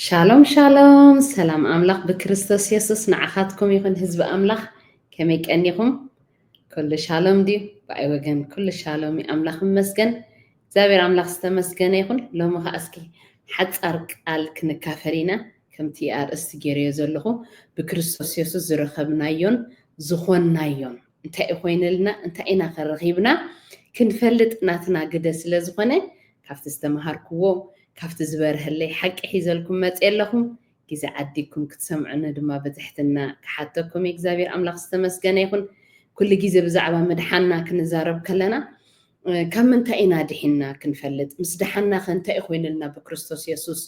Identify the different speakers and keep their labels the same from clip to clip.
Speaker 1: ሻሎም ሻሎም ሰላም ኣምላኽ ብክርስቶስ የሱስ ንዓኻትኩም ይኹን ህዝቢ ኣምላኽ ከመይ ቀኒኹም ኩሉ ሻሎም ድዩ ብኣይ ወገን ኩሉ ሻሎም እዩ ኣምላኽ ይመስገን እግዚኣብሔር ኣምላኽ ዝተመስገነ ይኹን ሎሚ ከዓ እስኪ ሓፃር ቃል ክንካፈል ኢና ከምቲ ኣርእስቲ ገይረዮ ዘለኹ ብክርስቶስ የሱስ ዝረኸብናዮን ዝኾንናዮን እንታይ እዩ ኮይንልና እንታይ ኢና ከ ረኺብና ክንፈልጥ ናትና ግደ ስለ ዝኾነ ካብቲ ዝተመሃርክዎ ካብቲ ዝበርሀለይ ሓቂ ሒዘልኩም መጽየ ኣለኹ ግዜ ዓዲግኩም ክትሰምዑኒ ድማ ብትሕትና ክሓተኩም እግዚኣብሔር ኣምላኽ ዝተመስገነ ይኹን ኩሉ ግዜ ብዛዕባ ምድሓንና ክንዛረብ ከለና ካብ ምንታይ ኢና ድሒንና ክንፈልጥ ምስ ደሓንና ከ እንታይ እዩ ኮይንልና ብክርስቶስ የሱስ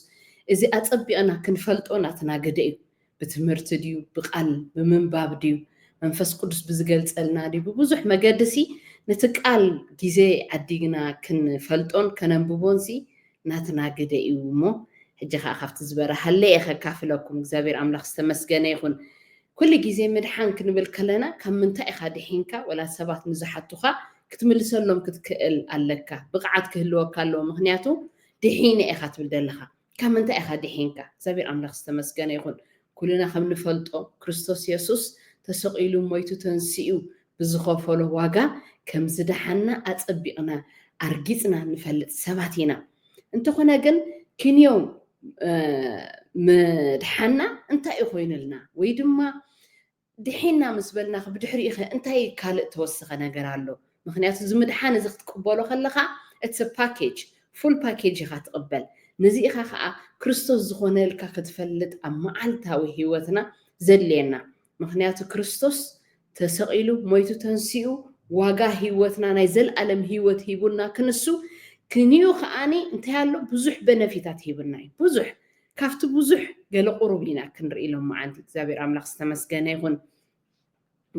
Speaker 1: እዚ ኣጸቢቕና ክንፈልጦ ናትና ግደ እዩ ብትምህርቲ ድዩ ብቃል ብምንባብ ድዩ መንፈስ ቅዱስ ብዝገልጸልና ድዩ ብብዙሕ መገድሲ ነቲ ቃል ግዜ ዓዲግና ክንፈልጦን ከነንብቦንሲ ናትና ግደ እዩ እሞ ሕጂ ከዓ ካብቲ ዝበረሃለይ እየ ከካፍለኩም እግዚኣብሔር ኣምላኽ ዝተመስገነ ይኹን ኩሉ ግዜ ምድሓን ክንብል ከለና ካብ ምንታይ ኢኻ ድሒንካ ወላ ሰባት ንዝሓቱኻ ክትምልሰሎም ክትክእል ኣለካ ብቕዓት ክህልወካ ኣለዎ ምክንያቱ ድሒነ ኢኻ ትብል ዘለኻ ካብ ምንታይ ኢኻ ድሒንካ? እግዚኣብሄር ኣምላኽ ዝተመስገነ ይኹን። ኩልና ከም ንፈልጦ ክርስቶስ የሱስ ተሰቒሉ ሞይቱ ተንሲኡ ብዝኸፈሎ ዋጋ ከም ዝደሓንና ኣጸቢቕና ኣርጊጽና ንፈልጥ ሰባት ኢና። እንተኾነ ግን ክንዮ ምድሓንና እንታይ እዩ ኮይኑልና ወይ ድማ ድሒና ምስ በልናኺ ብድሕሪኡኸ እንታይ ካልእ ተወሰኸ ነገር ኣሎ? ምኽንያቱ እዚ ምድሓን እዚ ክትቅበሎ ከለኻ it's a package ፉል ፓኬጅ ኢኻ ትቕበል። ነዚ ኢኻ ከኣ ክርስቶስ ዝኾነልካ ክትፈልጥ ኣብ መዓልታዊ ህይወትና ዘድልየና። ምኽንያቱ ክርስቶስ ተሰቒሉ ሞይቱ ተንሲኡ ዋጋ ህይወትና ናይ ዘልኣለም ህይወት ሂቡና ክንሱ ክንዩ ከኣ እንታይ ኣሎ ብዙሕ በነፊታት ሂቡና እዩ ብዙሕ ካብቲ ብዙሕ ገለ ቁሩብ ኢና ክንርኢ ሎምዓንቲ እግዚኣብሔር ኣምላክ ዝተመስገነ ይኹን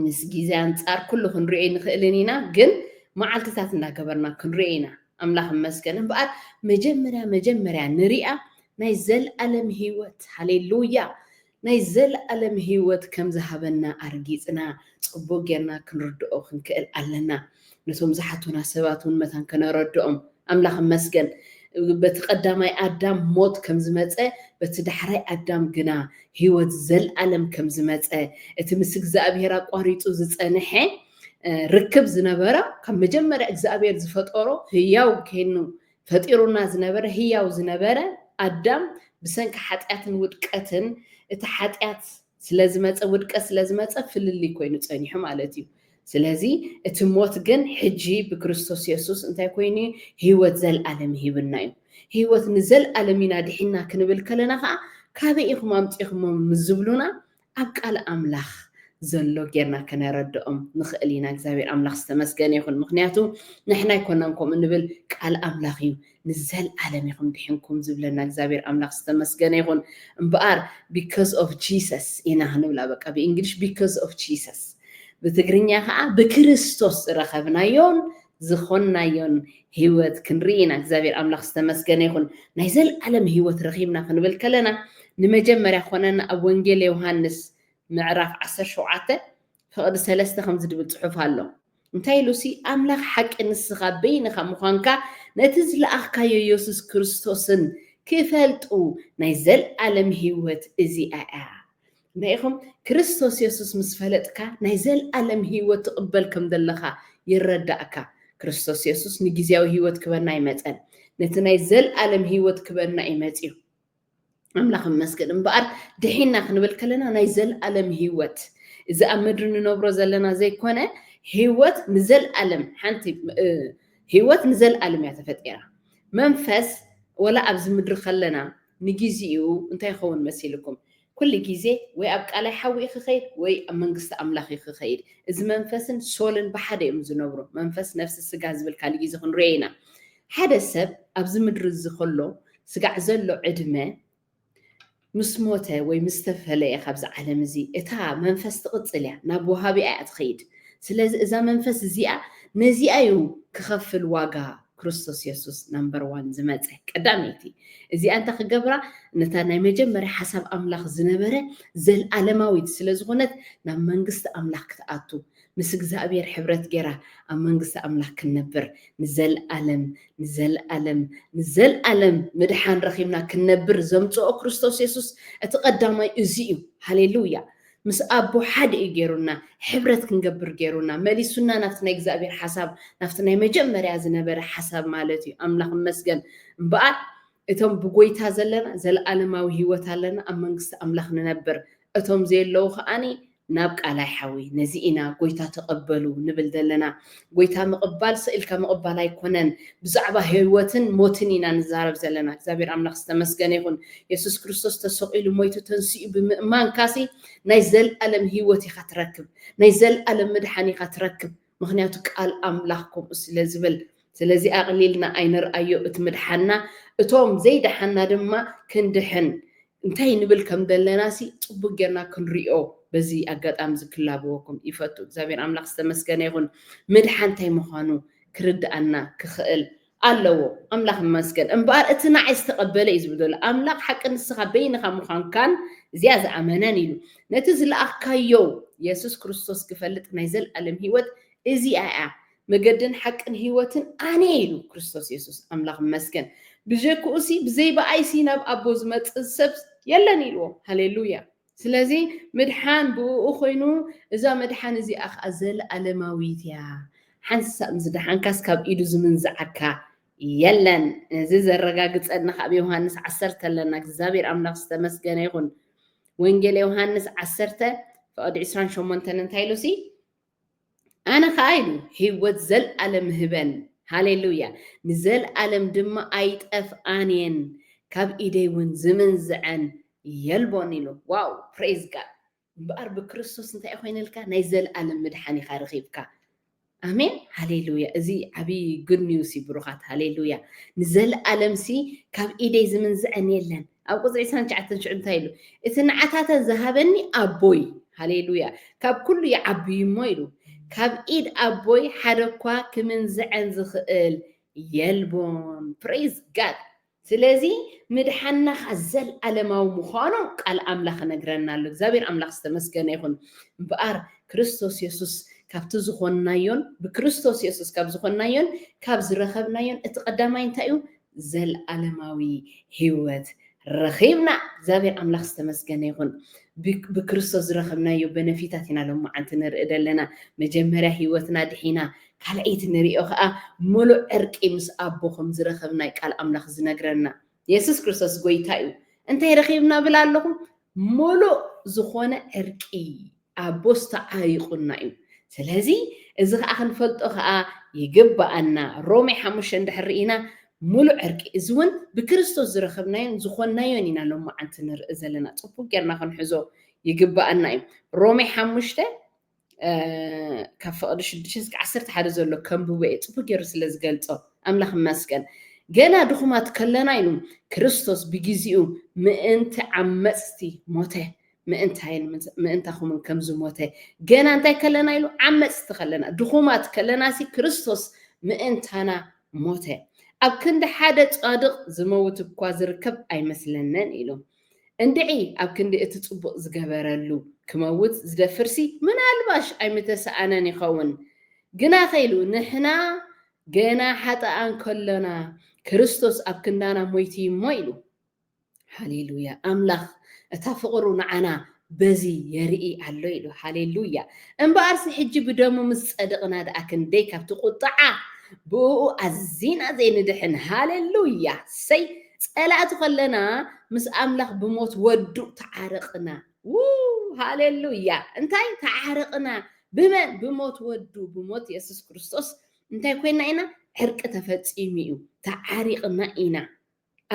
Speaker 1: ምስ ግዜ ኣንጻር ኩሉ ክንሪኦ ኣይንኽእልን ኢና ግን መዓልትታት እንዳገበርና ክንሪኦ ኢና ኣምላኽ እመስገን እምበኣር መጀመርያ መጀመርያ ንሪኣ ናይ ዘልኣለም ህይወት ሃሌሉያ ናይ ዘልኣለም ህይወት ከም ዝሃበና ኣርጊጽና ጽቡቅ ጌርና ክንርድኦ ክንክእል ኣለና ነቶም ዝሓቱና ሰባት እውን መታን ከነረድኦም። ኣምላኽ ይመስገን በቲ ቀዳማይ ኣዳም ሞት ከም ዝመጸ በቲ ዳሕራይ ኣዳም ግና ህይወት ዘልኣለም ከም ዝመጸ እቲ ምስ እግዚኣብሔር ኣቋሪጹ ዝጸንሐ ርክብ ዝነበረ ካብ መጀመርያ እግዚኣብሔር ዝፈጠሮ ህያው ከይኑ ፈጢሩና ዝነበረ ህያው ዝነበረ ኣዳም ብሰንኪ ሓጢኣትን ውድቀትን እቲ ሓጢኣት ስለዝመጸ ውድቀት ስለዝመጸ ፍልልይ ኮይኑ ጸኒሑ ማለት እዩ ስለዚ እቲ ሞት ግን ሕጂ ብክርስቶስ የሱስ እንታይ ኮይኑ እዩ ህይወት ዘልኣለም ሂብና እዩ ህይወት ንዘልኣለም ኢና ድሒና ክንብል ከለና ከዓ ካበይ ኢኹም ኣምጺኹሞ ምስ ዝብሉና ኣብ ቃል ኣምላኽ ዘሎ ጌርና ከነረድኦም ንኽእል ኢና እግዚኣብሔር ኣምላኽ ዝተመስገነ ይኹን ምክንያቱ ንሕና ኣይኮናን ከምኡ ንብል ቃል ኣምላኽ እዩ ንዘልኣለም ኢኹም ዲሒንኩም ዝብለና እግዚኣብሔር ኣምላክ ዝተመስገነ ይኹን እምበኣር because of Jesus ኢና ክንብላ በቃ ብእንግሊሽ because of Jesus ብትግርኛ ከዓ ብክርስቶስ ዝረኸብናዮን ዝኾንናዮን ህይወት ክንርኢ ኢና እግዚኣብሔር ኣምላክ ዝተመስገነ ይኹን ናይ ዘልኣለም ህይወት ረኺብና ክንብል ከለና ንመጀመርያ ኮነና ኣብ ወንጌል ዮሃንስ ምዕራፍ 17 ፍቕዲ ሰለስተ ከምዚ ድብል ፅሑፍ ኣሎ እንታይ ኢሉሲ ኣምላኽ ሓቂ ንስኻ በይንኻ ምዃንካ ነቲ ዝለኣኽካዮ የሱስ ክርስቶስን ክፈልጡ ናይ ዘልኣለም ህይወት እዚኣ እያ እንታይ ኢኹም ክርስቶስ የሱስ ምስ ፈለጥካ ናይ ዘልኣለም ህይወት ትቕበል ከም ዘለኻ ይረዳእካ ክርስቶስ የሱስ ንግዜያዊ ህይወት ክበና ኣይመጸን ነቲ ናይ ዘልኣለም ህይወት ክበና እዩ መጺኡ ኣምላኽ ይመስገን እምበኣር ድሒና ክንብል ከለና ናይ ዘልኣለም ህይወት እዚ ኣብ ምድሪ ንነብሮ ዘለና ዘይኮነ ህይወት ንዘልኣለም ሓንቲ ህይወት ንዘልኣለም እያ ተፈጢራ መንፈስ ወላ ኣብዚ ምድሪ ከለና ንግዜኡ እንታይ ይኸውን መሲልኩም ኩሉ ግዜ ወይ ኣብ ቃላይ ሓዊ እዩ ክኸይድ ወይ ኣብ መንግስቲ ኣምላኽ እዩ ክኸይድ። እዚ መንፈስን ሶልን ብሓደ እዮም ዝነብሩ። መንፈስ ነፍሲ ስጋ ዝብል ካልእ ግዜ ክንሪኦ ኢና። ሓደ ሰብ ኣብዚ ምድሪ እዚ ከሎ ስጋዕ ዘሎ ዕድመ ምስ ሞተ ወይ ምስ ተፈለየ ካብዚ ዓለም እዚ እታ መንፈስ ትቕጽል እያ ናብ ወሃቢኣ እያ ትኸይድ። ስለዚ እዛ መንፈስ እዚኣ ነዚኣ እዩ ክኸፍል ዋጋ ክርስቶስ የሱስ ናምበር ዋን ዝመፀ ቀዳመይቲ እዚኣ እንተ ክገብራ ነታ ናይ መጀመርያ ሓሳብ ኣምላኽ ዝነበረ ዘለኣለማዊት ስለ ዝኾነት ናብ መንግስቲ ኣምላኽ ክትኣቱ ምስ እግዚኣብሔር ሕብረት ገይራ ኣብ መንግስቲ ኣምላኽ ክንነብር ንዘለኣለም ንዘለኣለም ንዘለኣለም ምድሓን ረኺብና ክንነብር ዘምፅኦ ክርስቶስ የሱስ እቲ ቀዳማይ እዚ እዩ ሃሌሉያ ምስ ኣቦ ሓደ እዩ ገይሩና፣ ሕብረት ክንገብር ገይሩና፣ መሊሱና ናብቲ ናይ እግዚኣብሔር ሓሳብ፣ ናብቲ ናይ መጀመርያ ዝነበረ ሓሳብ ማለት እዩ፣ ኣምላኽ ይመስገን። እምበኣር እቶም ብጎይታ ዘለና ዘለኣለማዊ ህይወት ኣለና፣ ኣብ መንግስቲ ኣምላኽ ንነብር፣ እቶም ዘየለዉ ከኣ ናብ ቃላይ ሓዊ፣ ነዚ ኢና ጎይታ ተቐበሉ ንብል ዘለና። ጎይታ ምቕባል ሰኢልካ ምቕባል ኣይኮነን ብዛዕባ ህወትን ሞትን ኢና ንዛረብ ዘለና እግዚኣብሔር ኣምላኽ ዝተመስገነ ይኹን የሱስ ክርስቶስ ተሰቒሉ ሞይቱ ተንሲኡ ብምእማንካሲ ናይ ዘልኣለም ህወት ኢኻ ትረክብ ናይ ዘልኣለም ምድሓን ኢኻ ትረክብ ምክንያቱ ቃል ኣምላኽ ከምኡ ስለ ዝብል ስለዚ ኣቕሊልና ኣይንርኣዮ እቲ ምድሓና እቶም ዘይደሓና ድማ ክንድሕን እንታይ ንብል ከም ዘለና ሲ ጽቡቅ ጌርና ክንሪኦ በዚ ኣጋጣሚ እዚ ክላበወኩም ይፈቱ እግዚኣብሔር ኣምላክ ዝተመስገነ ይኩን ምድሓን እንታይ ምኳኑ ክርድኣና ክክእል ኣለዎ ኣምላክ ይመስገን እምበኣር እቲ ናዓይ ዝተቀበለ እዩ ዝብል ዘሎ ኣምላክ ሓቂ ንስካ በይንካ ምኳንካን እዚኣ ዝኣመነን ኢሉ ነቲ ዝለኣካዮ የሱስ ክርስቶስ ክፈልጥ ናይ ዘልኣለም ሂወት እዚኣ እያ መገድን ሓቅን ህይወትን ኣነ ኢሉ ክርስቶስ የሱስ ኣምላኽ ይመስገን ብጀክኡሲ ብዘይ ብኣይሲ ናብ ኣቦ ዝመጽእ ሰብ የለን ኢልዎ ሃሌሉያ ስለዚ ምድሓን ብእኡ ኮይኑ እዛ መድሓን እዚኣ ከኣ ዘለኣለማዊት እያ ሓንሳእ ምስ ደሓንካስ ካብ ኢዱ ዝምንዝዓካ የለን እዚ ዘረጋግጸልና ካብ ዮሃንስ ዓሰርተ ኣለና እግዚኣብሔር ኣምላኽ ዝተመስገነ ይኹን ወንጌል ዮሃንስ ዓሰርተ ፍቕዲ ዕስራን ሸሞንተን እንታይ ኢሉሲ ኣነ ኸኣ ኢሉ ህይወት ዘልኣለም እህበን፣ ሃሌሉያ፣ ንዘልኣለም ድማ ኣይጠፍኣን እየን፣ ካብ ኢደይ እውን ዝምንዝዐን የልቦን ኢሉ። ዋው! ፕረይዝ ጋድ! እምበኣር ብክርስቶስ እንታይ እዩ ኮይንልካ? ናይ ዘልኣለም ምድሓን ኢኻ ረኺብካ። ኣሜን ሃሌሉያ እዚ ዓብዪ ጉድ ኒውስ እዩ ብሩኻት ሃሌሉያ ንዘለኣለምሲ ካብ ኢደይ ዝምንዝዐን የለን ኣብ ቁፅሪ ዕስራን ትሽዓተን ሽዑ እንታይ ኢሉ? እቲ ንዓታተ ዝሃበኒ ኣቦይ፣ ሃሌሉያ፣ ካብ ኩሉ ይዓቢ እዩ እሞ ኢሉ፣ ካብ ኢድ ኣቦይ ሓደ እኳ ክምንዝዐን ዝኽእል የልቦን። ፕረይዝ ጋድ! ስለዚ ምድሓንና ኸኣ ዘለኣለማዊ ምዃኑ ቃል ኣምላኽ ይነግረና ኣሎ። እግዚኣብሄር ኣምላኽ ዝተመስገነ ይኹን። እምበኣር ክርስቶስ የሱስ ካብቲ ዝኾንናዮን ብክርስቶስ የሱስ ካብ ዝኾንናዮን ካብ ዝረኸብናዮን እቲ ቀዳማይ እንታይ እዩ? ዘልኣለማዊ ሂወት ረኺብና እግዚኣብሔር ኣምላኽ ዝተመስገነ ይኹን ብክርስቶስ ዝረኸብናዮ በነፊታት ኢና ሎማዓንቲ ንርኢ ዘለና መጀመርያ ሂወትና ድሒና ካልኣይቲ ንሪኦ ከኣ ሙሉእ ዕርቂ ምስ ኣቦ ከምዝረኸብናይ ቃል ኣምላኽ ዝነግረና የሱስ ክርስቶስ ጎይታ እዩ እንታይ ረኺብና ብል ኣለኹ ሙሉእ ዝኾነ ዕርቂ ኣቦስ ተዓይቁና እዩ ስለዚ እዚ ከኣ ክንፈልጦ ከኣ ይግበኣና ሮሜ ሓሙሽተ እንድሕር ርኢና ምሉእ ዕርቂ እዚ ውን ብክርስቶስ ዝረከብናዮን ዝኮንናዮን ኢና ሎማዓንቲ ንርኢ ዘለና ጽቡቅ ጌርና ክንሕዞ ይግበኣና እዩ ሮሜ ሓሙሽተ ካብ ፍቅዲ ሽዱሽተ እስከ ዓሰርተ ሓደ ዘሎ ከንብቦ እየ ጽቡቅ ጌሩ ስለ ዝገልጾ ኣምላኽ መስገን ገና ድኹማት ከለና ኢሉ ክርስቶስ ብግዚኡ ምእንቲ ዓመጽቲ ሞተ ምእንታይን ምእንታኹምን ከም ዝሞተ፣ ገና እንታይ ከለና ኢሉ? ዓመጽቲ ከለና፣ ድኹማት ከለናሲ ክርስቶስ ምእንታና ሞተ። ኣብ ክንዲ ሓደ ጻድቕ ዝመውት እኳ ዝርከብ ኣይመስለንን ኢሉ። እንድዒ ኣብ ክንዲ እቲ ጽቡቕ ዝገበረሉ ክመውት ዝደፍርሲ ምናልባሽ ኣይምተሳእነን ይኸውን። ግናኸ ኢሉ ንሕና ገና ሓጥኣን ከሎና ክርስቶስ ኣብ ክንዳና ሞይቱ እዩ እሞ ኢሉ። ሃሌሉያ ኣምላኽ እታ ፍቕሩ ንዓና በዚ የርኢ ኣሎ ኢሉ ሃሌሉያ እምበኣርሲ ሕጂ ብደሙ ምስ ጸድቕና ደኣ ክንደይ ካብቲ ቁጥዓ ብእኡ ኣዚና ዘይንድሕን ሃሌሉያ ሰይ ጸላእቲ ከለና ምስ ኣምላኽ ብሞት ወዱ ተዓረቕና ው ሃሌሉያ እንታይ ተዓረቕና ብመን ብሞት ወዱ ብሞት የሱስ ክርስቶስ እንታይ ኮይና ኢና ዕርቂ ተፈጺሙ እዩ ተዓሪቕና ኢና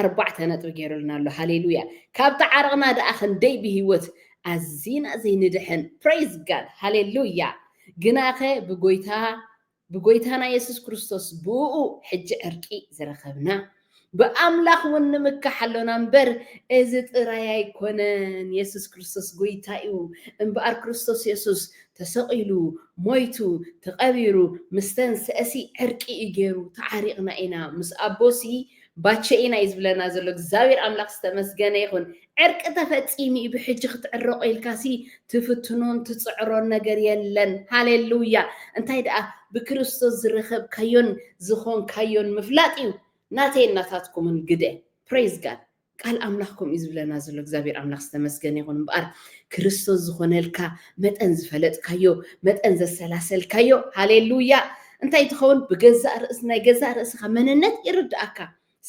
Speaker 1: ኣርባዕተ ነጥቢ ጌሩልና ኣሎ ሃሌሉያ ካብ ተዓርቕና ደኣ ክንደይ ብሂወት ኣዚና ዘይንድሕን praise God ሃሌሉያ ግናኸ ብጎይታ ብጎይታና የሱስ ክርስቶስ ብእኡ ሕጂ ዕርቂ ዝረኸብና ብኣምላኽ ውን ንምካሕ ኣሎና እምበር እዚ ጥራይ ኣይኮነን የሱስ ክርስቶስ ጎይታ እዩ እምበኣር ክርስቶስ የሱስ ተሰቒሉ ሞይቱ ተቐቢሩ ምስ ተንስኤሲ ዕርቂ እዩ ጌሩ ተዓሪቕና ኢና ምስ ኣቦሲ ባቸኤ ናዩ ዝብለና ዘሎ እግዚኣብሔር ኣምላክ ዝተመስገነ ይኩን ዕርቂ ተፈፂሙ እዩ ብሕጂ ክትዕረቆ ኢልካሲ ትፍትኖን ትፅዕሮን ነገር የለን ሃሌሉያ እንታይ ደኣ ብክርስቶስ ዝረከብካዮን ዝኮንካዮን ምፍላጥ እዩ ናተይን ናታትኩምን ግደ ፕሬዝ ጋድ ቃል ኣምላኽ ከምኡ እዩ ዝብለና ዘሎ እግዚኣብሔር ኣምላኽ ዝተመስገነ ይኹን እምበኣር ክርስቶስ ዝኾነልካ መጠን ዝፈለጥካዮ መጠን ዘሰላሰልካዮ ሃሌሉያ እንታይ ትኸውን ብገዛእ ርእስ ናይ ገዛእ ርእስኻ መንነት ይርድኣካ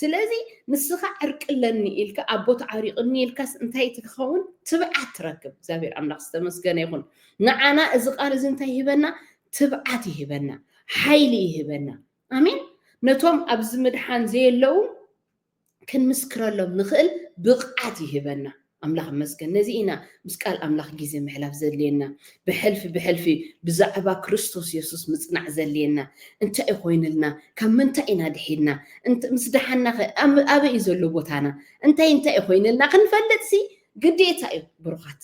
Speaker 1: ስለዚ ንስኻ ዕርቂ ኣለኒ ኢልካ ኣቦ ተዓሪቕኒ ኢልካስ እንታይ ትኸውን ትብዓት ትረክብ እግዚኣብሔር ኣምላኽ ዝተመስገነ ይኹን ንዓና እዚ ቃል እዚ እንታይ ይህበና ትብዓት ይህበና ሓይሊ ይህበና ኣሜን ነቶም ኣብዚ ምድሓን ዘየለዉ ክንምስክረሎም ንኽእል ብቕዓት ይህበና። ኣምላኽ ይመስገን ነዚ ኢና ምስ ቃል ኣምላኽ ግዜ ምሕላፍ ዘድልየና። ብሕልፊ ብሕልፊ ብዛዕባ ክርስቶስ የሱስ ምጽናዕ ዘድልየና። እንታይ'ዩ ኮይኑልና? ካብ ምንታይ ኢና ድሒንና? ምስ ደሓንናኸ ኣበይ'ዩ ዘሎ ቦታና? እንታይ እንታይ'ዩ ኮይኑልና? ክንፈልጥሲ ግዴታ'ዩ ብሩኻት።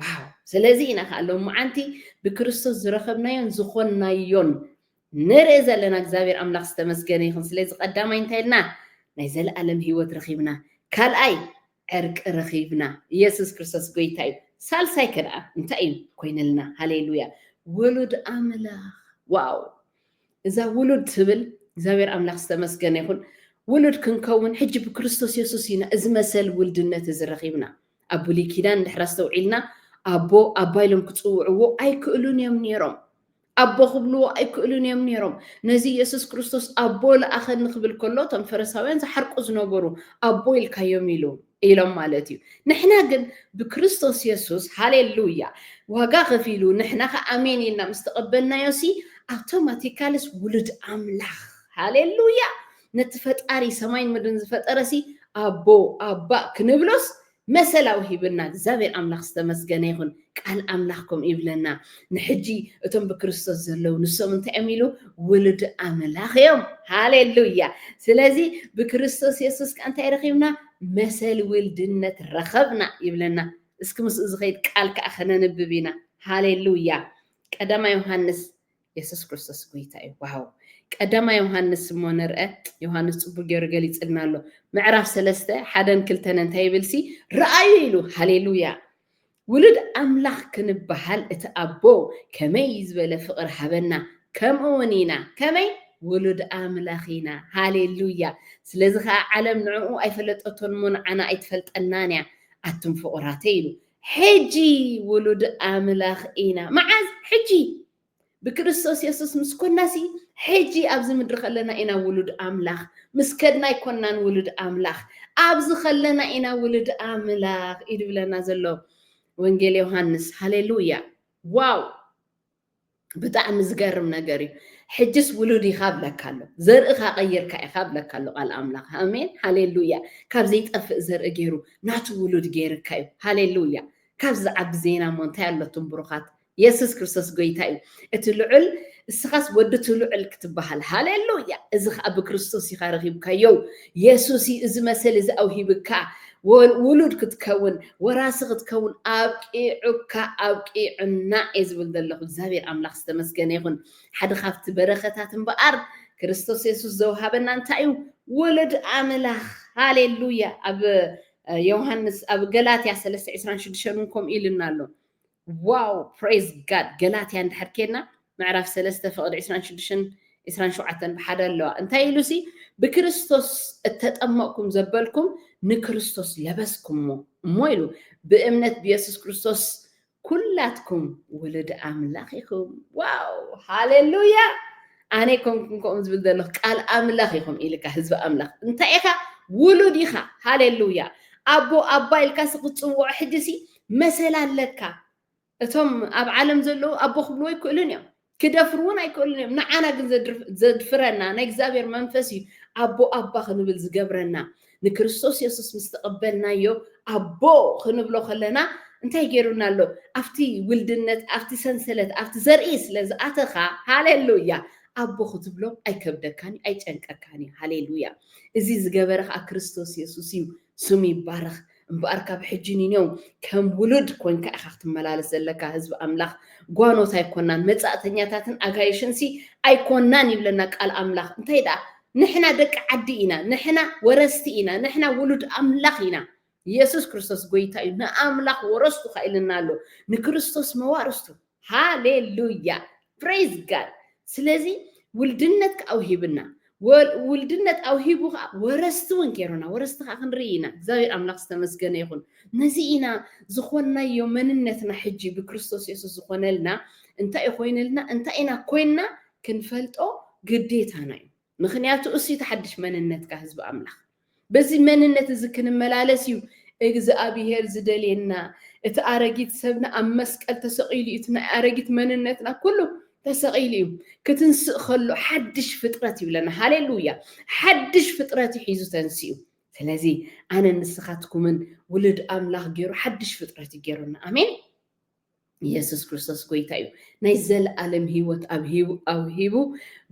Speaker 1: ዋው ስለዚ ኢና ከኣ ሎምዓንቲ ብክርስቶስ ዝረኸብናዮን ዝኾንናዮን ንርኢ ዘለና እግዚኣብሔር ኣምላኽ ዝተመስገነ ይኹን ስለዚ ቀዳማይ እንታይ ኢልና ናይ ዘለኣለም ህይወት ረኺብና ካልኣይ ዕርቂ ረኺብና ኢየሱስ ክርስቶስ ጎይታ እዩ ሳልሳይ ከደኣ እንታይ እዩ ኮይነልና ሃሌሉያ ውሉድ ኣምላኽ ዋው እዛ ውሉድ ትብል እግዚኣብሔር ኣምላኽ ዝተመስገነ ይኹን ውሉድ ክንከውን ሕጂ ብክርስቶስ የሱስ ኢና እዚ መሰል ውልድነት እዚ ረኺብና ኣብ ብሉይ ኪዳን እንድሕር ኣስተውዒልና ኣቦ ኣባ ኢሎም ክጽውዕዎ ኣይክእሉን እዮም ነይሮም። ኣቦ ክብልዎ ኣይክእሉን እዮም ነይሮም። ነዚ ኢየሱስ ክርስቶስ ኣቦ ለኣኸኒ ክብል ከሎ እቶም ፈሪሳውያን ዝሓርቁ ዝነበሩ ኣቦ ኢልካዮም ኢሉ ኢሎም ማለት እዩ። ንሕና ግን ብክርስቶስ የሱስ ሃሌሉያ ዋጋ ከፊሉ ንሕና ከ ኣሜን ኢልና ምስ ተቐበልናዮሲ ኣውቶማቲካልስ ውሉድ ኣምላኽ ሃሌሉያ ነቲ ፈጣሪ ሰማይን ምድርን ዝፈጠረሲ ኣቦ ኣባ ክንብሎስ መሰላዊ ሂብና እግዚኣብሔር ኣምላኽ ዝተመስገነ ይኹን ቃል ኣምላኽ ከምኡ ይብለና ንሕጂ እቶም ብክርስቶስ ዘለዉ ንሶም እንታይ እዮም ኢሉ ውሉድ ኣምላኽ እዮም ሃሌሉያ ስለዚ ብክርስቶስ የሱስ ከ እንታይ ረኺብና መሰል ውልድነት ረኸብና ይብለና እስኪ ምስኡ ዝኸይድ ቃል ከዓ ከነንብብ ኢና ሃሌሉያ ቀዳማ ዮሃንስ የሱስ ክርስቶስ ጎይታ እዩ ዋው ቀዳማ ዮሃንስ እሞ ንርአ ዮሃንስ ጽቡቅ ገይሩ ገሊጽልና ኣሎ ምዕራፍ ሰለስተ ሓደን ክልተን እንታይ ይብልሲ ረኣዩ ኢሉ ሃሌሉያ ውሉድ ኣምላኽ ክንበሃል እቲ ኣቦ ከመይ ዝበለ ፍቕሪ ሃበና ከምኡ እውን ኢና ከመይ ውሉድ ኣምላኽ ኢና ሃሌሉያ ስለዚ ከዓ ዓለም ንዕኡ ኣይፈለጠቶን እሞ ንዓና ኣይትፈልጠናን እያ ኣቱም ፍቑራተይ ኢሉ ሕጂ ውሉድ ኣምላኽ ኢና። መዓዝ? ሕጂ! ብክርስቶስ የሱስ ምስ ኰንናሲ፣ ሕጂ ኣብዚ ምድሪ ኸለና ኢና ውሉድ ኣምላኽ፣ ምስ ከድና ኣይኰንናን ውሉድ ኣምላኽ፣ ኣብዚ ኸለና ኢና ውሉድ ኣምላኽ እዩ ድብለና ዘሎ ወንጌል ዮሃንስ። ሃሌ ሉያ! ዋው! ብጣዕሚ ዝገርም ነገር እዩ ሕጅስ ውሉድ ኢኻ ብለካ ኣሎ ዘርእኻ ቀይርካ ኢኻ ብለካ ኣሎ ቃል ኣምላኽ ኣሜን ሃሌሉያ ካብ ዘይጠፍእ ዘርኢ ገይሩ ናቱ ውሉድ ገይርካ እዩ ሃሌሉያ ካብ ዝዓቢ ዜና እሞ እንታይ ኣሎቱም ብሩኻት የሱስ ክርስቶስ ጎይታ እዩ እቲ ልዑል እስኻስ ወዲ እቲ ልዑል ክትበሃል ሃሌሉያ እዚ ከዓ ብክርስቶስ ኢኻ ረኺብካዮ የሱስ እዩ እዚ መሰል እዚ ኣውሂብካ፣ ውሉድ ክትከውን፣ ወራሲ ክትከውን ኣብቂዑካ፣ ኣብቂዑና እየ ዝብል ዘለኹ። እግዚኣብሄር ኣምላኽ ዝተመስገነ ይኹን። ሓደ ካብቲ በረኸታት እምበኣር ክርስቶስ የሱስ ዘውሃበና እንታይ እዩ? ወለድ ኣምላኽ። ሃሌሉያ! ኣብ ዮሃንስ ኣብ ገላትያ ሰለስተ ዕስራን ሽዱሽተን እውን ከምኡ ኢሉና ኣሎ። ዋው ፕሬዝ ጋድ ገላትያ እንድሕር ኬድና ምዕራፍ ሰለስተ ፍቅዲ ዕስራን ሽዱሽተን ዕስራን ሸውዓተን ብሓደ ኣለዋ እንታይ ኢሉ ሲ ብክርስቶስ እተጠመቅኩም ዘበልኩም ንክርስቶስ ለበስኩሞ እሞ ኢሉ ብእምነት ብየሱስ ክርስቶስ ኩላትኩም ውሉድ ኣምላኽ ኢኹም ዋው ሃሌሉያ ኣነ ኮንኩም ከምኡ ዝብል ዘለኹ ቃል ኣምላኽ ኢኹም ኢልካ ህዝቢ ኣምላኽ እንታይ ኢኻ ውሉድ ኢኻ ሃሌሉያ ኣቦ ኣባ ኢልካ ሲ ክትፅውዖ ሕጂ ሲ መሰል ኣለካ እቶም ኣብ ዓለም ዘለዉ ኣቦ ክብልዎ ኣይክእሉን እዮም ክደፍሩ እውን ኣይክእሉን እዮም ንዓና ግን ዘድፍረና ናይ እግዚኣብሔር መንፈስ እዩ ኣቦ ኣባ ክንብል ዝገብረና ንክርስቶስ የሱስ ምስ ተቐበልናዮ ኣቦ ክንብሎ ከለና እንታይ ገይሩና ኣሎ ኣብቲ ውልድነት ኣብቲ ሰንሰለት ኣብቲ ዘርኢ ስለ ዝኣተኻ ሃሌሉያ ኣቦ ክትብሎ ኣይከብደካን እዩ ኣይጨንቀካን እዩ ሃሌሉያ እዚ ዝገበረ ከዓ ክርስቶስ የሱስ እዩ ስሙ ይባረኽ እምበኣር ካብ ሕጂ ንኔው ከም ውሉድ ኮንካ ኢኻ ክትመላለስ ዘለካ፣ ህዝቢ ኣምላኽ ጓኖት ኣይኮናን፣ መጻእተኛታትን ኣጋይሽንሲ ኣይኮናን ይብለና ቃል ኣምላኽ፣ እንታይ ደኣ ንሕና ደቂ ዓዲ ኢና፣ ንሕና ወረስቲ ኢና፣ ንሕና ውሉድ ኣምላኽ ኢና፣ የሱስ ክርስቶስ ጎይታ እዩ፣ ንኣምላኽ ወረስቱ ከኣ ኢሉና ኣሎ፣ ንክርስቶስ መዋርስቱ። ሃሌሉያ ፕረይዝ ጋድ ስለዚ ውልድነት ከዓ ውሂብና ውልድነት ኣውሂቡ ከዓ ወረስቲ እውን ገይሩና ወረስቲ ከዓ ክንርኢ ኢና እግዚኣብሔር ኣምላኽ ዝተመስገነ ይኹን ነዚ ኢና ዝኾንናዮ መንነትና ሕጂ ብክርስቶስ የሱስ ዝኾነልና እንታይ እዩ ኮይንልና እንታይ ኢና ኮይንና ክንፈልጦ ግዴታና እዩ ምኽንያቱ እሱ እቲ ሓድሽ መንነትካ ህዝቢ ኣምላኽ። በዚ መንነት እዚ ክንመላለስ እዩ እግዝኣብሄር ዝደልየና። እቲ ኣረጊት ሰብና ኣብ መስቀል ተሰቒሉ እዩ፣ እቲ ናይ ኣረጊት መንነትና ኩሉ ተሰቒሉ እዩ። ክትንስእ ከሎ ሓድሽ ፍጥረት ይብለና። ሃሌሉያ! ሓድሽ ፍጥረት እዩ ሒዙ ተንሲኡ። ስለዚ ኣነን ንስኻትኩምን ውሉድ ኣምላኽ ገይሩ ሓድሽ ፍጥረት እዩ ገይሩና። ኣሜን! ኢየሱስ ክርስቶስ ጎይታ እዩ ናይ ዘለኣለም ህይወት ኣብ ሂቡ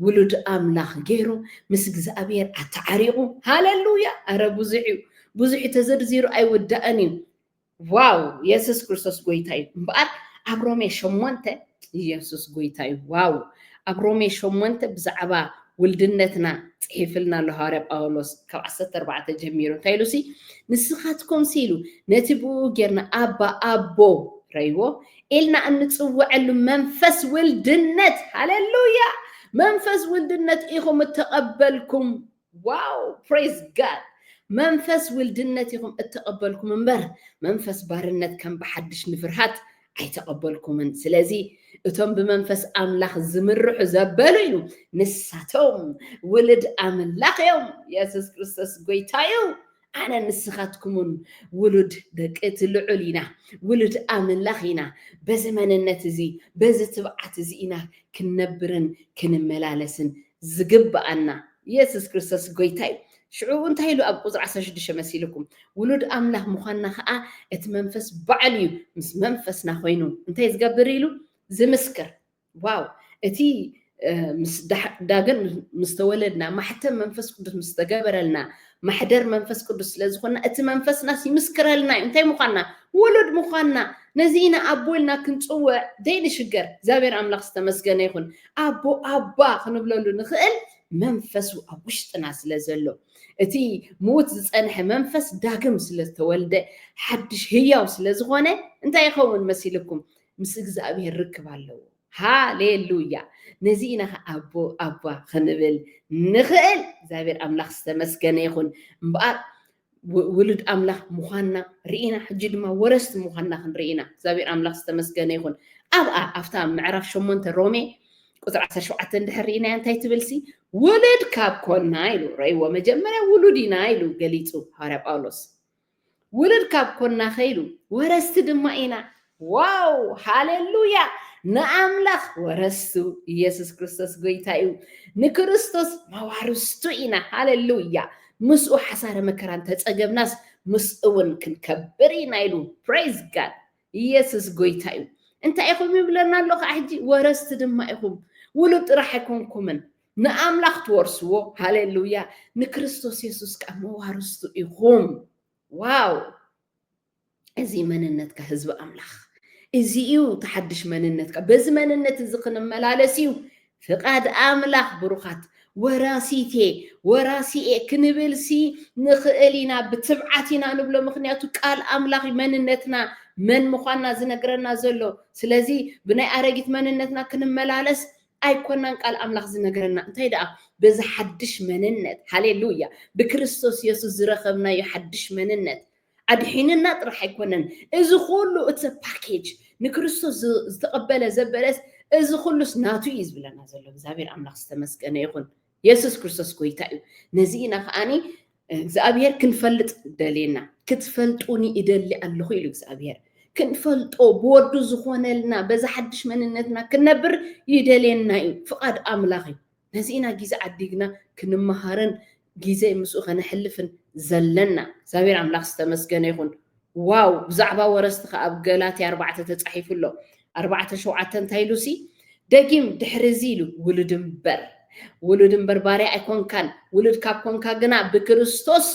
Speaker 1: ውሉድ ኣምላኽ ገይሩ ምስ እግዚኣብሔር ኣተዓሪቑ ሃለሉያ ኣረ ብዙሕ እዩ ብዙሕ ተዘርዚሩ ኣይውዳእን እዩ ዋው ኢየሱስ ክርስቶስ ጎይታ እዩ እምበኣር ኣብ ሮሜ ሸሞንተ ኢየሱስ ጎይታ እዩ ዋው ኣብ ሮሜ ሸሞንተ ብዛዕባ ውልድነትና ጽሒፍልና ኣሎ ሃዋርያ ጳውሎስ ካብ ዓሰርተ ኣርባዕተ ጀሚሩ እንታይ ኢሉሲ ንስኻትኩምሲ ኢሉ ነቲ ብኡ ጌርና ኣባ ኣቦ ረይዎ ኢልና እንጽውዐሉ መንፈስ ውልድነት ሃሌሉያ መንፈስ ውልድነት ኢኹም እተቐበልኩም ዋው ፕሬዝ ጋድ መንፈስ ውልድነት ኢኹም እተቐበልኩም እምበር መንፈስ ባርነት ከም ብሓድሽ ንፍርሃት ኣይተቐበልኩምን ስለዚ እቶም ብመንፈስ ኣምላኽ ዝምርሑ ዘበሉ እዩ ንሳቶም ውልድ ኣምላኽ እዮም የሱስ ክርስቶስ ጎይታ እዩ ኣነ ንስኻትኩምን ውሉድ ደቂ እቲ ልዑል ኢና ውሉድ ኣምላኽ ኢና በዚ መንነት እዚ በዚ ትብዓት እዚ ኢና ክንነብርን ክንመላለስን ዝግብኣና የሱስ ክርስቶስ ጎይታ እዩ ሽዑ እንታይ ኢሉ ኣብ ቁጽሪ ዓሰርተ ሽዱሽተ መሲሉኩም ውሉድ ኣምላኽ ምዃንና ከኣ እቲ መንፈስ ባዕሉ እዩ ምስ መንፈስና ኮይኑ እንታይ ዝገብር ኢሉ ዝምስክር ዋው እቲ ምስ ዳግም ምስ ተወለድና ማሕተም መንፈስ ቅዱስ ምስ ተገበረልና ማሕደር መንፈስ ቅዱስ ስለ ዝኾንና እቲ መንፈስናስ ይምስክረልና እዩ እንታይ ምዃንና ውሉድ ምዃንና ነዚ ኢና ኣቦ ኢልና ክንፅውዕ ዘይንሽገር እግዚኣብሔር ኣምላኽ ዝተመስገነ ይኹን ኣቦ ኣባ ክንብለሉ ንኽእል መንፈሱ ኣብ ውሽጥና ስለ ዘሎ፣ እቲ ምዉት ዝጸንሐ መንፈስ ዳግም ስለ ዝተወልደ፣ ሓድሽ ህያው ስለ ዝኾነ፣ እንታይ ይኸውን መሲልኩም? ምስ እግዝኣብሄር ርክብ ኣለዎ። ሃሌሉያ! ነዚ ኢና ከኣ ኣቦ፣ ኣባ ክንብል ንኽእል። እግዚኣብሄር ኣምላኽ ዝተመስገነ ይኹን። እምበኣር ውሉድ ኣምላኽ ምዃንና ርኢና፣ ሕጂ ድማ ወረስቲ ምዃንና ክንርኢ ኢና። እግዚኣብሄር ኣምላኽ ዝተመስገነ ይኹን። ኣብኣ ኣብታ ምዕራፍ ሸሞንተ ሮሜ ቁጽሪ ዓሰርተ ሸውዓተ እንድሕር ርኢናያ እንታይ ትብልሲ ውሉድ ካብ ኮና ኢሉ ረእይዎ መጀመርያ ውሉድ ኢና ኢሉ ገሊጹ ሃዋርያ ጳውሎስ ውሉድ ካብ ኮና ከኢሉ ወረስቲ ድማ ኢና ዋው ሃሌሉያ ንኣምላኽ ወረስቱ ኢየሱስ ክርስቶስ ጎይታ እዩ ንክርስቶስ መዋርስቱ ኢና ሃሌሉያ ምስኡ ሓሳረ መከራ እንተጸገብናስ ምስኡውን ክንከብር ኢና ኢሉ ፕሬዝ ጋድ ኢየሱስ ጎይታ እዩ እንታይ ኢኹም ይብለና ኣሎ ከዓ ሕጂ ወረስቲ ድማ ኢኹም ውሉድ ጥራሕ ኣይኮንኩምን ንኣምላኽ ትወርስዎ ሃሌሉያ ንክርስቶስ የሱስ ከዓ መዋርስቱ ኢኹም ዋው እዚ መንነትካ ህዝቢ ኣምላኽ እዚ እዩ እቲ ሓድሽ መንነትካ በዚ መንነት እዚ ክንመላለስ እዩ ፍቃድ ኣምላኽ ብሩኻት ወራሲቴ ወራሲኤ ክንብልሲ ንኽእል ኢና ብትብዓት ኢና ንብሎ ምክንያቱ ቃል ኣምላኽ መንነትና መን ምዃንና ዝነግረና ዘሎ ስለዚ ብናይ ኣረጊት መንነትና ክንመላለስ ኣይኮናን ቃል ኣምላኽ ዝነገረና እንታይ ደኣ በዚ ሓድሽ መንነት ሃሌሉያ ብክርስቶስ የሱስ ዝረኸብናዮ ሓድሽ መንነት ኣድሒንና ጥራሕ ኣይኮነን እዚ ኩሉ it's a package ንክርስቶስ ዝተቀበለ ዘበለስ እዚ ኩሉስ ናቱ እዩ ዝብለና ዘሎ እግዚኣብሔር ኣምላኽ ዝተመስገነ ይኹን የሱስ ክርስቶስ ጎይታ እዩ ነዚ ኢና ከዓኒ እግዚኣብሔር ክንፈልጥ ደልየና ክትፈልጡኒ ይደሊ ኣለኹ ኢሉ እግዚኣብሔር ክንፈልጦ ብወዱ ዝኾነልና በዛ ሓድሽ መንነትና ክንነብር ይደልየና እዩ ፍቓድ ኣምላኽ እዩ ነዚ ኢና ጊዘ ዓዲግና ክንመሃርን ጊዘ ምስኡ ከነሕልፍን ዘለና እግዚኣብሔር ኣምላክ ዝተመስገነ ይኩን ዋው ብዛዕባ ወረስቲ ከኣ ኣብ ገላትያ ኣርባዕተ ተጻሒፉ ኣሎ ኣርባዕተ ሸውዓተ እንታይ ኢሉሲ ደጊም ድሕሪ እዚ ኢሉ ውሉድ እምበር ውሉድ እምበር ባርያ ኣይኮንካን ውሉድ ካብ ኮንካ ግና ብክርስቶስ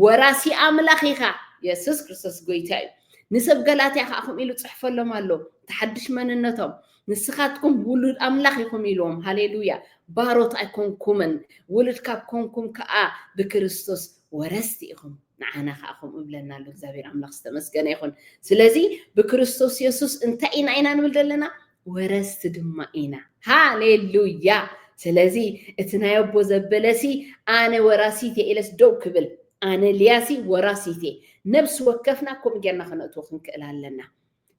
Speaker 1: ወራሲ ኣምላኽ ኢኻ የሱስ ክርስቶስ ጎይታ እዩ ንሰብ ገላትያ ከዓ ከምኡ ኢሉ ጽሕፈሎም ኣሎ ተሓድሽ መንነቶም ንስኻትኩም ውሉድ ኣምላኽ ኢኹም ኢሉዎም። ሃሌሉያ! ባሮት ኣይኮንኩምን፣ ውሉድ ካብ ኮንኩም ከኣ ብክርስቶስ ወረስቲ ኢኹም። ንዓና ከኣ ከምኡ ይብለና ኣሎ። እግዚኣብሄር ኣምላኽ ዝተመስገነ ይኹን። ስለዚ ብክርስቶስ የሱስ እንታይ ኢና ኢና ንብል ዘለና? ወረስቲ ድማ ኢና። ሃሌሉያ! ስለዚ እቲ ናይ ኣቦ ዘበለሲ ኣነ ወራሲት እየ ኢለስ ደው ክብል ኣነ ልያሲ ወራሲት እየ ነብሲ ወከፍና ከምኡ ጌርና ከነእትዎ ክንክእል ኣለና።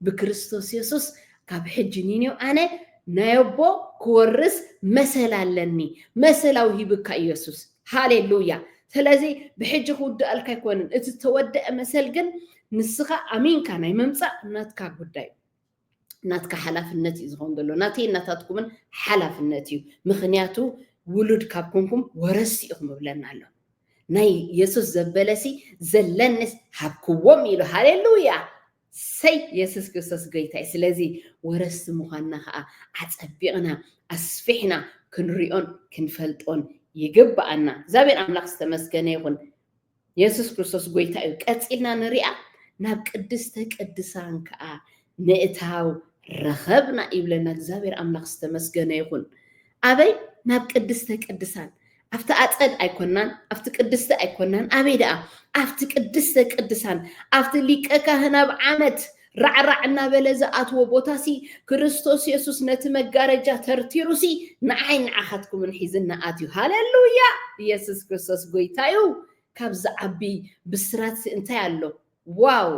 Speaker 1: ብክርስቶስ የሱስ ካብ ሕጂ ንይንዮ ኣነ ናይ ኣቦ ክወርስ መሰል ኣለኒ መሰል ኣውሂብካ እዩ የሱስ ሃሌሉያ ስለዚ ብሕጂ ክውድኣልካ ኣይኮነን እቲ ዝተወደአ መሰል ግን ንስኻ ኣሚንካ ናይ ምምፃእ ናትካ ጉዳይ ናትካ ሓላፍነት እዩ ዝኸውን ዘሎ ናተይ እናታትኩምን ሓላፍነት እዩ ምክንያቱ ውሉድ ካብ ኮንኩም ወረስቲ ኢኹም እብለና ኣሎ ናይ የሱስ ዘበለሲ ዘለንስ ሃብክዎም ኢሉ ሃሌሉያ ሰይ የሱስ ክርስቶስ ጎይታ እዩ ስለዚ ወረስቲ ምዃንና ከኣ ኣጸቢቕና ኣስፊሕና ክንሪኦን ክንፈልጦን ይግብኣና እግዚኣብሔር ኣምላኽ ዝተመስገነ ይኹን የሱስ ክርስቶስ ጎይታ እዩ ቀጺልና ንሪኣ ናብ ቅድስተ ቅድሳን ከኣ ምእታው ረኸብና ይብለና እግዚኣብሔር ኣምላኽ ዝተመስገነ ይኹን ኣበይ ናብ ቅድስተ ቅድሳን ኣብቲ ኣጸድ ኣይኮናን፣ ኣብቲ ቅድስቲ ኣይኮናን፣ ኣበይ ደኣ? ኣብቲ ቅድስተ ቅድሳን፣ ኣብቲ ሊቀ ካህን ኣብ ዓመት ራዕራዕ እናበለ ዝኣትዎ ቦታሲ፣ ክርስቶስ የሱስ ነቲ መጋረጃ ተርቲሩሲ ንዓይን ንዓኻትኩምን ሒዝና ኣትዩ። ሃሌሉያ! የሱስ ክርስቶስ ጎይታ'ዩ! ካብዚ ዓቢ ብስራትሲ እንታይ ኣሎ? ዋው!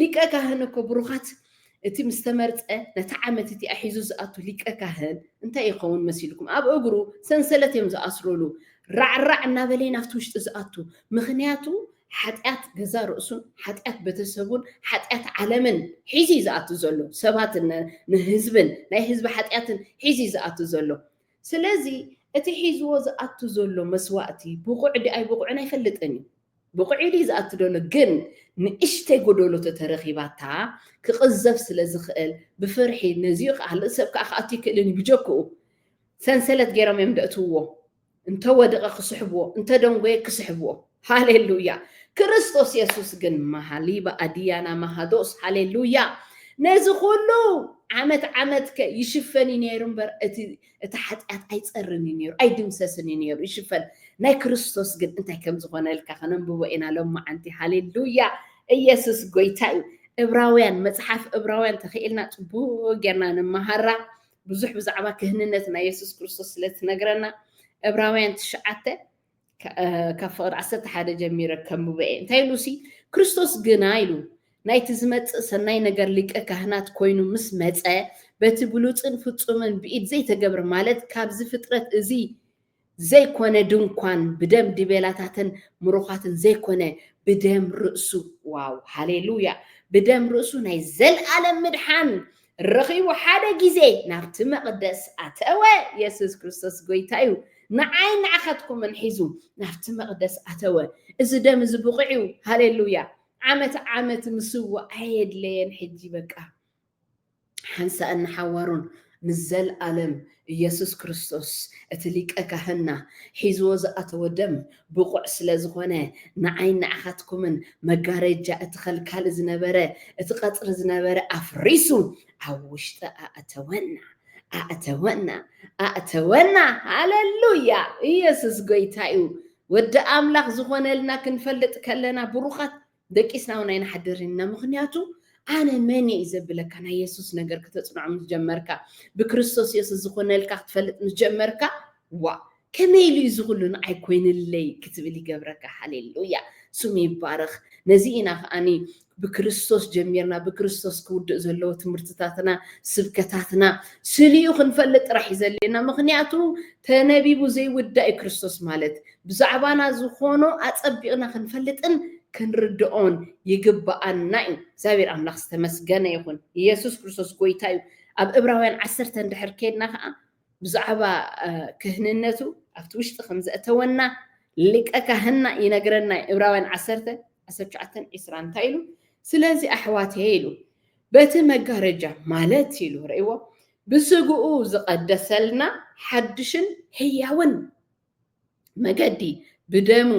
Speaker 1: ሊቀ ካህን እኮ ብሩኻት እቲ ምስ ተመርጸ ነታ ዓመት እቲኣ ሒዙ ዝኣቱ ሊቀ ካህን እንታይ ይኸውን መሲልኩም ኣብ እግሩ ሰንሰለት እዮም ዝኣስሩሉ ራዕ ራዕ እናበለ እዩ ናብቲ ውሽጢ ዝኣቱ ምኽንያቱ ሓጢኣት ገዛ ርእሱን ሓጢኣት ቤተሰቡን ሓጢኣት ዓለምን ሒዙ እዩ ዝኣቱ ዘሎ ሰባት ንህዝብን ናይ ህዝቢ ሓጢኣትን ሒዙ እዩ ዝኣቱ ዘሎ ስለዚ እቲ ሒዝዎ ዝኣቱ ዘሎ መስዋእቲ ብቑዕ ድዩ ኣይብቑዕን ኣይፈልጥን እዩ። ብቑዕ ኢሉ እዩ ዝኣቱ ዘሎ ግን ንእሽተይ ጎዶሎ ተተረኺባታ ክቕዘፍ ስለ ዝኽእል ብፍርሒ ነዚኡ ካልእ ሰብ ከኣ ክኣቱ ኣይክእልን እዩ ብጀክኡ ሰንሰለት ጌሮም እዮም ደእትውዎ እንተወደቐ ክስሕብዎ እንተደንጎየ ክስሕብዎ። ሃሌሉያ ክርስቶስ የሱስ ግን ማሃሊባ ኣድያና ማሃዶስ ሃሌሉያ ነዚ ኩሉ ዓመት ዓመት ከ ይሽፈን እዩ ነይሩ እምበር እቲ እቲ ሓጢኣት ኣይፀርን እዩ ነይሩ ኣይድምሰስን እዩ ነይሩ ይሽፈን ናይ ክርስቶስ ግን እንታይ ከም ዝኾነልካ ከነንብቦ ኢና ሎማዓንቲ ሃሌሉያ ኢየሱስ ጎይታ እዩ እብራውያን መፅሓፍ እብራውያን ተኽኢልና ፅቡቅ ጌርና ንመሃራ ብዙሕ ብዛዕባ ክህንነት ናይ የሱስ ክርስቶስ ስለ ትነግረና እብራውያን ትሽዓተ ካብ ፍቕሪ ዓሰርተ ሓደ ጀሚረ ከንብቦ እየ። እንታይ ኢሉ ሲ ክርስቶስ ግና ኢሉ ናይቲ ዝመጽእ ሰናይ ነገር ሊቀ ካህናት ኮይኑ ምስ መጸ በቲ ብሉጽን ፍጹምን ብኢድ ዘይተገብረ ማለት ካብዚ ፍጥረት እዚ ዘይኮነ ድንኳን ብደም ዲቤላታትን ምሩኻትን ዘይኮነ ብደም ርእሱ ዋው ሃሌሉያ ብደም ርእሱ ናይ ዘልኣለም ምድሓን ረኺቡ ሓደ ግዜ ናብቲ መቕደስ ኣተወ። የሱስ ክርስቶስ ጐይታ እዩ። ንዓይን ንዓኻትኩምን ሒዙ ናብቲ መቕደስ ኣተወ። እዚ ደም እዚ ብቑዕ እዩ። ሃሌሉያ! ዓመት ዓመት ምስዋእ ኣየድለየን ሕጂ በቃ ሓንሳእን ንሓዋሩን ንዘልኣለም ኢየሱስ ክርስቶስ እቲ ሊቀ ካህንና ሒዝዎ ዝኣተዎ ደም ብቑዕ ስለ ዝኾነ ንዓይን ንዓኻትኩምን መጋረጃ እቲ ከልካሊ ዝነበረ እቲ ቀጽሪ ዝነበረ ኣፍሪሱ ኣብ ውሽጢ ኣእተወና ኣእተወና ኣእተወና ሃለሉያ ኢየሱስ ጎይታ እዩ ወዲ ኣምላኽ ዝኾነልና ክንፈልጥ ከለና ብሩኻት ደቂስና ውን ኣይንሓድርን ኢና ምኽንያቱ ኣነ መን እየ እዩ ዘብለካ ናይ የሱስ ነገር ክተጽንዖ ምስ ጀመርካ ብክርስቶስ የሱስ ዝኾነልካ ክትፈልጥ ምስ ጀመርካ ዋእ ከመይ ኢሉ እዩ እዚ ኩሉ ንዓይ ኮይንለይ ክትብል ይገብረካ ሃሌሉያ ስሙ ይባረኽ ነዚ ኢና ከኣኒ ብክርስቶስ ጀሚርና ብክርስቶስ ክውድእ ዘለዎ ትምህርትታትና ስብከታትና ስሊኡ ክንፈልጥ ጥራሕ እዩ ዘድልየና ምክንያቱ ተነቢቡ ዘይውዳእ እዩ ክርስቶስ ማለት ብዛዕባና ዝኾኖ ኣጸቢቕና ክንፈልጥን ክንርድኦን ይግብኣና እዩ። እግዚኣብሔር ኣምላኽ ዝተመስገነ ይኹን። ኢየሱስ ክርስቶስ ጎይታ እዩ። ኣብ እብራውያን ዓሰርተ እንድሕር ኬድና ከኣ ብዛዕባ ክህንነቱ ኣብቲ ውሽጢ ከም ዘእተወና ሊቀ ካህንና ይነግረና እዩ። እብራውያን ዓሰርተ ዓሰርተ ትሽዓተን ዒስራን እንታይ ኢሉ? ስለዚ ኣሕዋተየ ኢሉ በቲ መጋረጃ ማለት ኢሉ ርእይዎ ብስግኡ ዝቐደሰልና ሓድሽን ህያውን መገዲ ብደሙ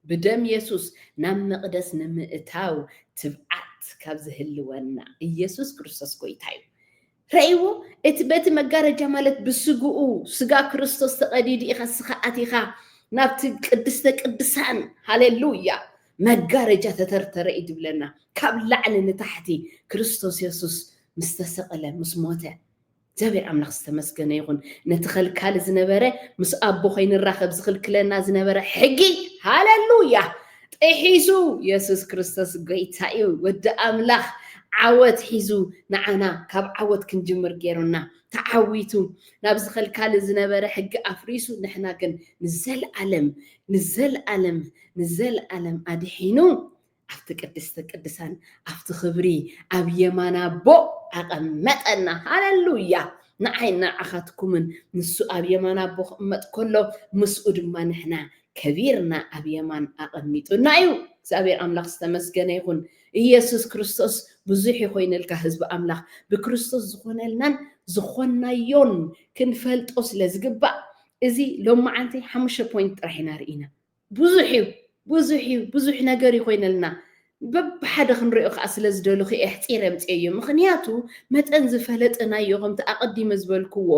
Speaker 1: ብደም የሱስ ናብ መቕደስ ንምእታው ትብዓት ካብ ዝህልወና ኢየሱስ ክርስቶስ ጎይታ እዩ። ረእይዎ እቲ በቲ መጋረጃ ማለት ብስግኡ ስጋ ክርስቶስ ተቐዲዱ ኢኻ ስኻ ኣቲኻ ናብቲ ቅድስተ ቅድሳን ሃሌሉያ መጋረጃ ተተርተረ እዩ ዝብለና ካብ ላዕሊ ንታሕቲ ክርስቶስ የሱስ ምስ ተሰቕለ ምስ ሞተ እግዚኣብሔር ኣምላኽ ዝተመስገነ ይኹን ነቲ ኸልካሊ ዝነበረ ምስ ኣቦ ኸይንራኸብ ዝኽልክለና ዝነበረ ሕጊ ሃለሉያ ጥሒሱ የሱስ ክርስቶስ ጎይታ እዩ ወዲ ኣምላኽ ዓወት ሒዙ ንዓና ካብ ዓወት ክንጅምር ገይሩና ተዓዊቱ ናብ ዝኸልካሊ ዝነበረ ሕጊ ኣፍሪሱ ንሕና ግን ንዘለኣለም ንዘለኣለም ንዘለኣለም ኣድሒኑ ኣብቲ ቅድስተ ቅድሳን ኣብቲ ክብሪ ኣብ የማን ኣቦ ኣቐመጠና ሃለሉያ ንዓይ ንዓኻትኩምን ንሱ ኣብ የማን ኣቦ ክቕመጥ ከሎ ምስኡ ድማ ንሕና ከቢርና ኣብ የማን ኣቐሚጡና እዩ እግዚኣብሔር ኣምላኽ ዝተመስገነ ይኹን ኢየሱስ ክርስቶስ ብዙሕ ይኮይነልካ ህዝቢ ኣምላኽ ብክርስቶስ ዝኾነልናን ዝኾናዮን ክንፈልጦ ስለ ዝግባእ እዚ ሎመዓንቲ ሓሙሽተ ፖይንት ጥራሕ ኢና ርኢና ብዙሕ እዩ ብዙሕ እዩ ብዙሕ ነገር እዩ ኮይነልና በብሓደ ክንሪኦ ከዓ ስለ ዝደለኹ እየ ኣሕፂረ ኣምፂኤዮ ምኽንያቱ መጠን ዝፈለጥናዮ ከምቲ ኣቐዲመ ዝበልክዎ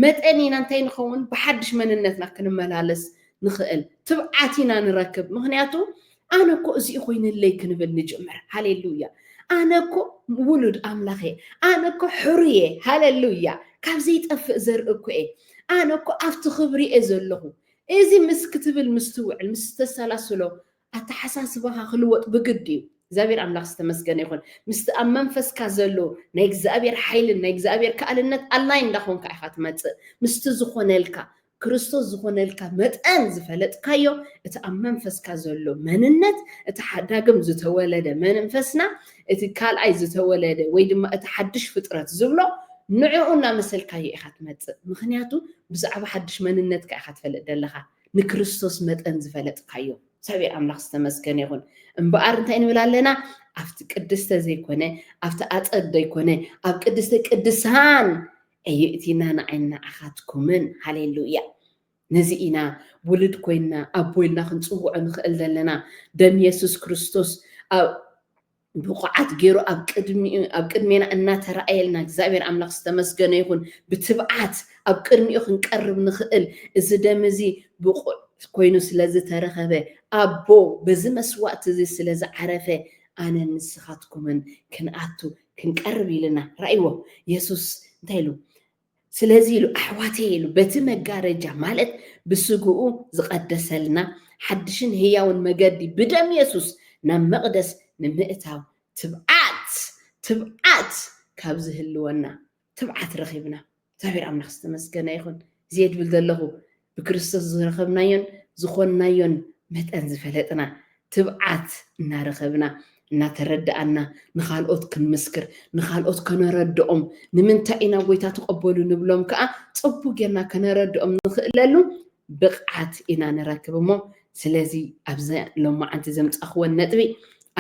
Speaker 1: መጠን ኢና እንታይ ንኸውን ብሓድሽ መንነትና ክንመላለስ ንኽእል ትብዓት ኢና ንረክብ ምኽንያቱ ኣነ እኮ እዚኡ ኮይነለይ ክንብል ንጅምር ሃሌሉያ ኣነ እኮ ውሉድ ኣምላኽ እየ ኣነ እኮ ሕሩ እየ ሃሌሉያ ካብ ዘይጠፍእ ዘርኢ እኮ እየ ኣነ እኮ ኣብቲ ክብሪ እየ ዘለኹ እዚ ምስ ክትብል ምስትውዕል ምስ ተሰላስሎ ኣተሓሳስባኻ ክልወጥ ብግድ እዩ። እግዚኣብሔር ኣምላኽ ዝተመስገነ ይኹን ምስቲ ኣብ መንፈስካ ዘሎ ናይ እግዚኣብሔር ሓይልን ናይ እግዚኣብሔር ከኣልነት ኣላይ እንዳኾንካ ኢኻ ትመጽእ ምስቲ ዝኾነልካ ክርስቶስ ዝኾነልካ መጠን ዝፈለጥካዮ እቲ ኣብ መንፈስካ ዘሎ መንነት እቲ ሓዳግም ዝተወለደ መንፈስና እቲ ካልኣይ ዝተወለደ ወይ ድማ እቲ ሓድሽ ፍጥረት ዝብሎ ንዕኡ እናመሰልካዮ ኢኻ ትመጽእ። ምኽንያቱ ብዛዕባ ሓድሽ መንነትካ ኢኻ ትፈልጥ ዘለኻ፣ ንክርስቶስ መጠን ዝፈለጥካዮ። እግዚኣብሔር ኣምላኽ ዝተመስገነ ይኹን። እምበኣር እንታይ ንብል ኣለና? ኣብቲ ቅድስተ ዘይኮነ፣ ኣብቲ ኣጸድ ዘይኮነ፣ ኣብ ቅድስተ ቅድሳን ኣየእቲና ንዓይን ንዓኻትኩምን። ሃሌሉያ! ነዚ ኢና ውሉድ ኮይንና ኣቦ ኢልና ክንጽውዖ ንኽእል ዘለና። ደም የሱስ ክርስቶስ ኣብ ብቑዓት ገይሩ ኣብ ቅድሚኡ ኣብ ቅድሜና እናተራእየልና እግዚኣብሔር ኣምላኽ ዝተመስገነ ይኹን ብትብዓት ኣብ ቅድሚኡ ክንቀርብ ንኽእል እዚ ደም እዚ ብቑዕ ኮይኑ ስለ ዝተረኸበ ኣቦ በዚ መስዋእቲ እዚ ስለ ዝዓረፈ ኣነን ንስኻትኩምን ክንኣቱ ክንቀርብ ኢልና ራእይዎ የሱስ እንታይ ኢሉ ስለዚ ኢሉ ኣሕዋተየ ኢሉ በቲ መጋረጃ ማለት ብስግኡ ዝቐደሰልና ሓድሽን ህያውን መገዲ ብደም የሱስ ናብ መቕደስ ንምእታው ትብዓት ትብዓት ካብ ዝህልወና ትብዓት ረኺብና። እግዚኣብሔር ኣምላኽ ዝተመስገነ ይኹን። ዜድ ብል ዘለኹ ብክርስቶስ ዝረኸብናዮን ዝኾንናዮን መጠን ዝፈለጥና፣ ትብዓት እናረኸብና፣ እናተረድኣና ንኻልኦት ክንምስክር፣ ንኻልኦት ከነረድኦም፣ ንምንታይ ኢና ጎይታ ተቐበሉ ንብሎም ከኣ ጽቡቕ ጌርና ከነረድኦም ንኽእለሉ ብቕዓት ኢና ንረክብ እሞ ስለዚ ኣብዚ ሎማዓንቲ ዘምጻኽወን ነጥቢ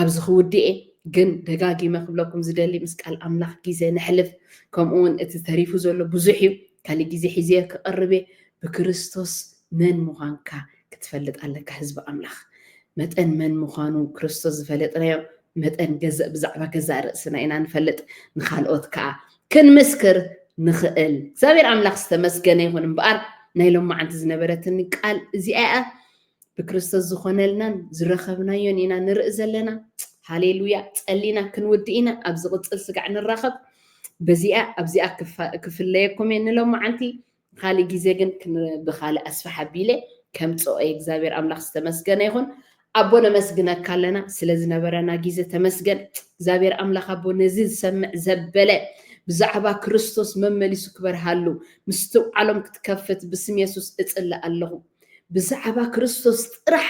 Speaker 1: ኣብዚ ክውድኤ ግን ደጋጊመ ክብለኩም ዝደሊ ምስ ቃል ኣምላኽ ግዜ ነሕልፍ ከምኡ ውን እቲ ተሪፉ ዘሎ ብዙሕ እዩ ካልእ ግዜ ሒዜ ክቐርብ እየ ብክርስቶስ መን ምዃንካ ክትፈልጥ ኣለካ ህዝቢ ኣምላኽ መጠን መን ምዃኑ ክርስቶስ ዝፈለጥናዮ መጠን ገዘእ ብዛዕባ ገዛእ ርእስና ኢና ንፈልጥ ንካልኦት ከዓ ክንምስክር ንኽእል። እግዚኣብሔር ኣምላኽ ዝተመስገነ ይኹን እምበኣር ናይ ሎማዓንቲ ዝነበረትኒ ቃል እዚኣ እያ። ብክርስቶስ ዝኾነልናን ዝረኸብናዮን ኢና ንርኢ ዘለና። ሃሌሉያ ጸሊና ክንውድእ ኢና ኣብ ዝቕጽል ስጋዕ ንራኸብ። በዚኣ ኣብዚኣ ክፍለየኩም እየ ንሎማዓንቲ ብካልእ ግዜ ግን ብካልእ ኣስፍሕ ኣቢለ ከምጽኦ እየ እግዚኣብሔር ኣምላክ ዝተመስገነ ይኩን ኣቦ ነመስግነካ ኣለና ስለ ዝነበረና ግዜ ተመስገን እግዚኣብሔር ኣምላክ ኣቦ ነዚ ዝሰምዕ ዘበለ ብዛዕባ ክርስቶስ መመሊሱ ክበርሃሉ ምስትውዓሎም ክትከፍት ብስም የሱስ እጽልእ ኣለኹ ብዛዕባ ክርስቶስ ጥራሕ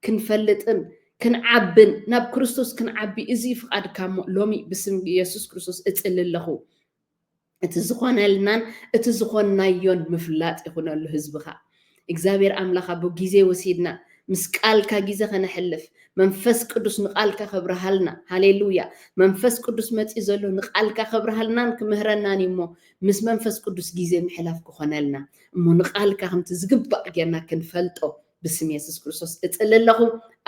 Speaker 1: ክንፈልጥን ክንዓብን ናብ ክርስቶስ ክንዓቢ እዚ ፍቃድካ እሞ ሎሚ ብስም የሱስ ክርስቶስ እጽሊ ኣለኹ እቲ ዝኾነልናን እቲ ዝኾንናዮን ምፍላጥ ይኹነሉ ህዝብኻ እግዚኣብሔር ኣምላኽ ኣቦ ጊዜ ወሲድና ምስ ቃልካ ጊዜ ከነሕልፍ መንፈስ ቅዱስ ንቃልካ ከብርሃልና ሃሌሉያ መንፈስ ቅዱስ መፅዩ ዘሎ ንቃልካ ከብርሃልናን ክምህረናን እዩ እሞ ምስ መንፈስ ቅዱስ ጊዜ ምሕላፍ ክኾነልና እሞ ንቃልካ ከምቲ ዝግባእ ጌርና ክንፈልጦ ብስም የሱስ ክርስቶስ እጽሊ ኣለኹ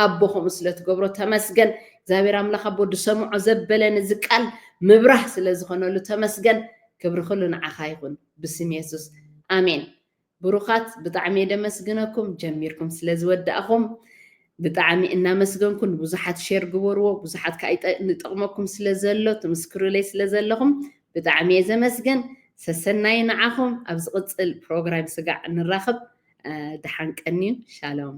Speaker 1: ኣቦ ከምኡ ስለ ትገብሮ ተመስገን እግዚኣብሔር ኣምላኽ ኣቦ ድሰምዖ ዘበለ ነዚ ቃል ምብራህ ስለ ዝኾነሉ ተመስገን ክብሪ ኩሉ ንዓኻ ይኹን ብስም የሱስ ኣሜን ብሩኻት ብጣዕሚ እየ ደመስግነኩም ጀሚርኩም ስለ ዝወዳእኹም ብጣዕሚ እናመስገንኩ ንብዙሓት ሼር ግበርዎ ብዙሓት ከዓ ንጠቕመኩም ስለ ዘሎ ትምስክሩለይ ስለ ዘለኹም ብጣዕሚ እየ ዘመስግን ሰሰናዩ ንዓኹም ኣብ ዝቅፅል ፕሮግራም ስጋዕ ንራኽብ ድሓን ቀንዩ ሻሎም።